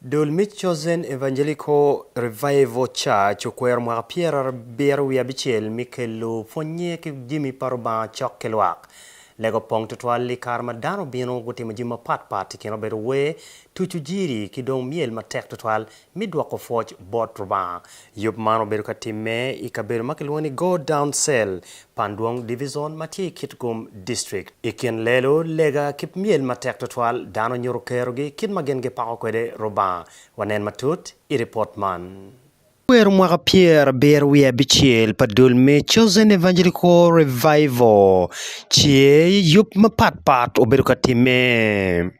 Dul me Chosen Evangelical Revival Church okwero mwaka pyerabiro wiye abicel me kelo pwonnye ki jami pa Rubanga cok ki lwak. Lega opong tutwal i kare ma dano obino gutimo jami mapat pat i kin obedo wer, tucu jiri ki dong myel matek tutwal me dwoko pwoc bot Rubanga. Yub man obedo ka timme i kabedo ma kilwongo ni Go Down Cell, pan dwong divizon ma tye i Kitgum District. I kin lelo, lega, ki myel matek tutwal, dano nyuto kerogi kit ma gin gipako kwede Rubanga. Wanen matut i ripot man. Kwero mwaka pyer abiro wiye abicel pa dul me Chosen Evangelical Revival tye i yub mapatpat obedo ka timme.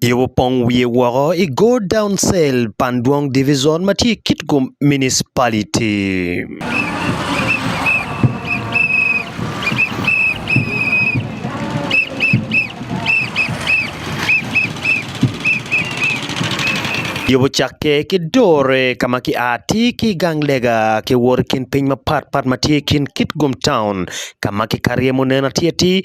Yobo opong wiye woko i Godown Cell pan Dwong Divizon ma tye i Kitgum Municipality. Yobo ocakke ki Dore ka ma ki a atir ki i gang lega ki wot i kin piny mapatpat ma tye i kin Kitgum Town ka ma kikato iye munen atir atir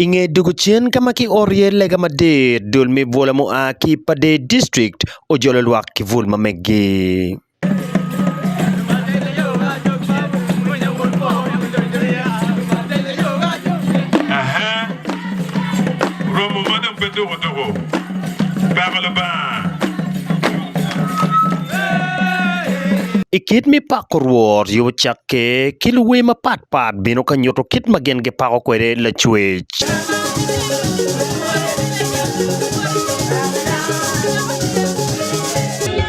I nge dwogo cen ka ma kioro iye lega madit, dul me bwola mua ki Pader District ojolo lwak ki bul ma meggi. I kit me pako Rwot, yo ocakke ki luwer mapatpat bino ka nyuto kit ma gin gipako kwede Lacwec.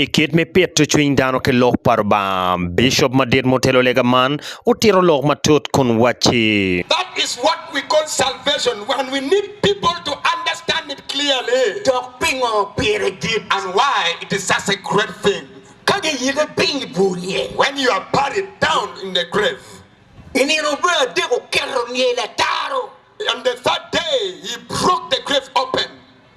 I kit me pito cwiny dano ki Lok pa Lubanga, Bicop madit ma otelo lega man otito lok matut kun wacci. That is what we call salvation and we need people to understand it clearly. Dok pingo pire dit and why it is such a great thing ka giyike piny i bur niye? When you are buried down in the grave. I nino me adek oketo niye lataro. On the third day he broke the grave open.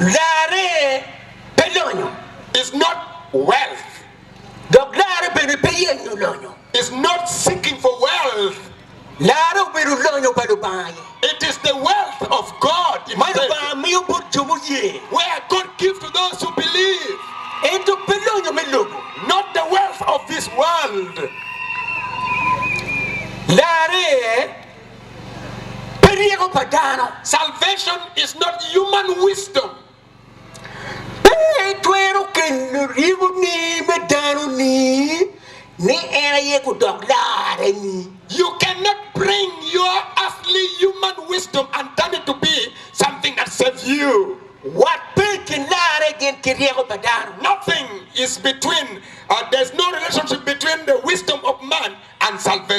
Larre pe lonyo is not wealth, dok larre bene pe yenyo lonyo is not seeking for wealth. Larre obedo lonyo pa Lubanga aye. It is the wealth of God ma Himself Lubanga miyo bot jo muye, where God gives to those who believe, ento pe lonyo me lobo. not the wealth of this world. Larre Pe ryeko pa dano. Salvation is not human wisdom. Pe itwero kelo ryekoni me dano ni, ni en aye gudok larre ni. You can not bring your earthly human wisdom and turn it to be something that save you. Wat pe i kin larre gin ki ryeko pa dano. Nothing is between, there's no relationship between the wisdom of man.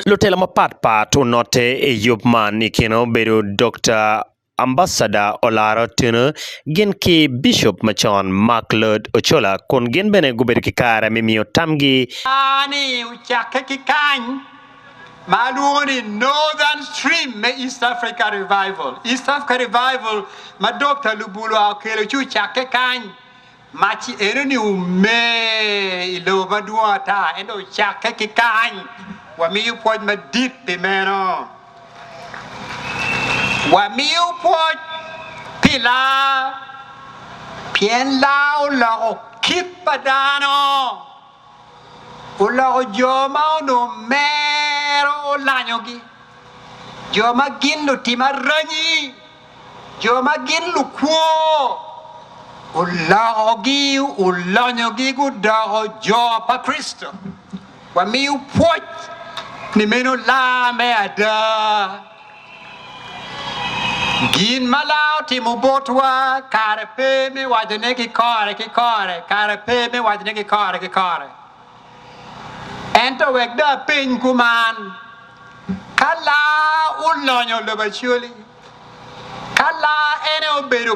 Lutela mapat pat onote i yub man, i kine obedo Dokta Ambasada Olara Otieno gin ki Bicop macon Mark Lloyd Ochola kun gin bene gubedo ki kare me miyo tamgi. Bar ni ocakke ki kany ma alwongo ni Northern Stream me East Africa Revival. East Africa Revival ma Dokta Lubulwa okelo ci ocakke kany. Mac enoni omer i lobo madwong ata, ento ocakke ki kany. Wamiyo pwoc madit pi meno. Wamiyo pwoc pi laa, pien laa oloko kit pa dano, oloko jo ma onongo mero olanyogi, jo ma gin lutim aranyi. Jo ma gin lukwo olokogi, olonyogi, gudoko jo pa Kricito. Wamiyo pwoc ni meno laa me ada. Gin ma laa otimo botwa kare pe me wacone ki kore ki kore, kare pe me wacone ki kore ki kore. Ento wek dong apeny kuman, Ka laa olonyo lobacoli, Ka laa en aye obedo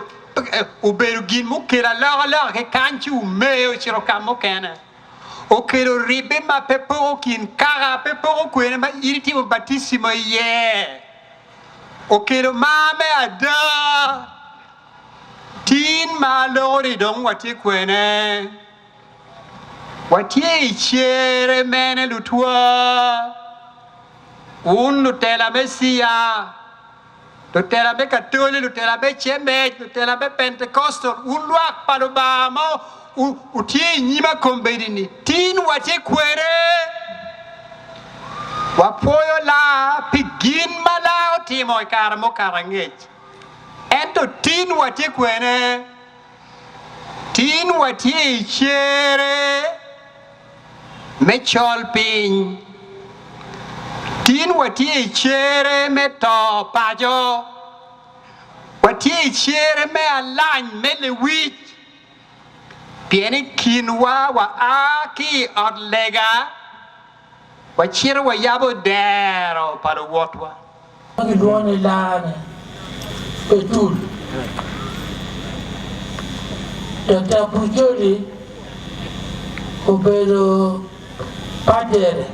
obedo gin mukelo alokaloka ki kany ci omee ocito ka mukene, okelo ribbe ma pe poko kin kaka pe poko kwene ma in itimo batisimo iye, okelo mar me ada. Tin ma aloko-ni dong watye kwene. Watye i cere mene lutwa? Wun lutela me cia, lutela me katoli, lutela me cemec, lutela me pentecostal, wun lwak pa Lubanga ma wutye i nyima kombedini, tin watye kwene? Wapwoyo laa pi gin ma laa otimo i kare mukato angec, ento tin watye kwene? Tin watye i cere me col piny. Tin watye i cere me to paco. Watye i cere me alany me lewic. Pien i kinwa waa ki i ot lega. Wacito wayabo dero pa luwotwa. Ma gilwongo ni laa ni Betul. Daktar Burjoli obedo padere,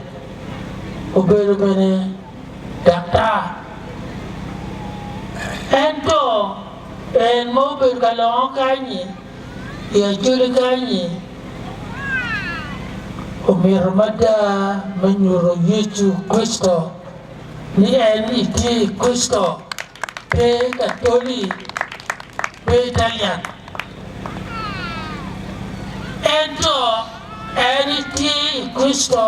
obedo bene daktar. Ento en ma obedo ka longo kany-nyi. I ajogi kany-nyi, omyero mada me nyuto Yecu Kricito ni en ni tye i Kricito, pe i Katoli, pe Italian, ento en ni tye i Kricito.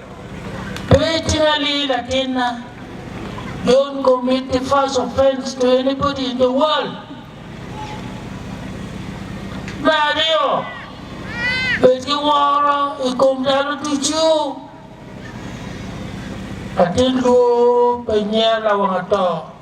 Pe icali latinna. Don't commit the first offense to anybody in the world. Me aryo, bed ki woro i kom dano ducu. Latin lwor pe nyer lawang ato.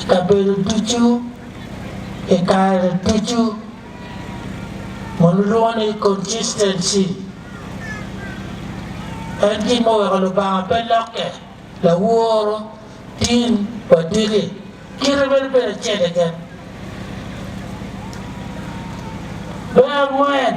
i kabedo ducu, i kare ducu, ma lulwongo ni consistency. En gin ma oweko Lubanga pe lokke, laworo, tin, wa diki. Kite meno bedo acel keken. Me angwen.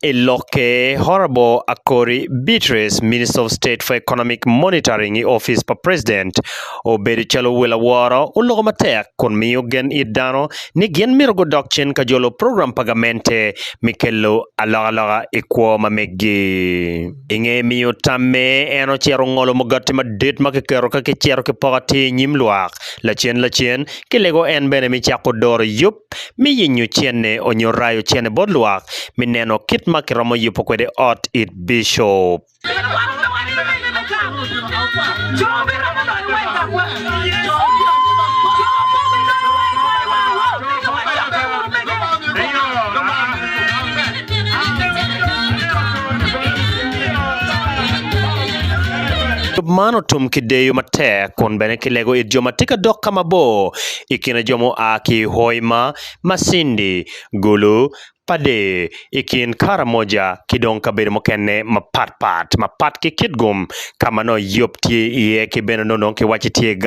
I lokke, Honourable Akori Beatrice, Minister of State for Economic Monitoring i opic pa President, obedo calo wel aworo oloko matek kun miyo gen it dano ni gin myero gudok cen ka jolo program pa gamente me kelo alokaloka i kwo ma meggi. I nge miyo tamme, en ocito ngolo mugati madit ma kiketo ka kicito ki poko atir i nyim lwak. Lacen lacen, kilego en bene me cako doro yub me yenyo cente onyo rayo cente bot lwak me neno kit ma kiromo yubo kwede ot it bicop. Yub man otum ki deyo matek kun bene kilego it jo ma tye ka dok ka mabor. i kine jo mua ki Hoima, Masindi, Gulu, Pader, i kin Karamoja ki dong kabedo mukene mapat pat, mapat ki kit gum ka ma nongo Yop tye iye ki bene nongo kiwacci tye gang.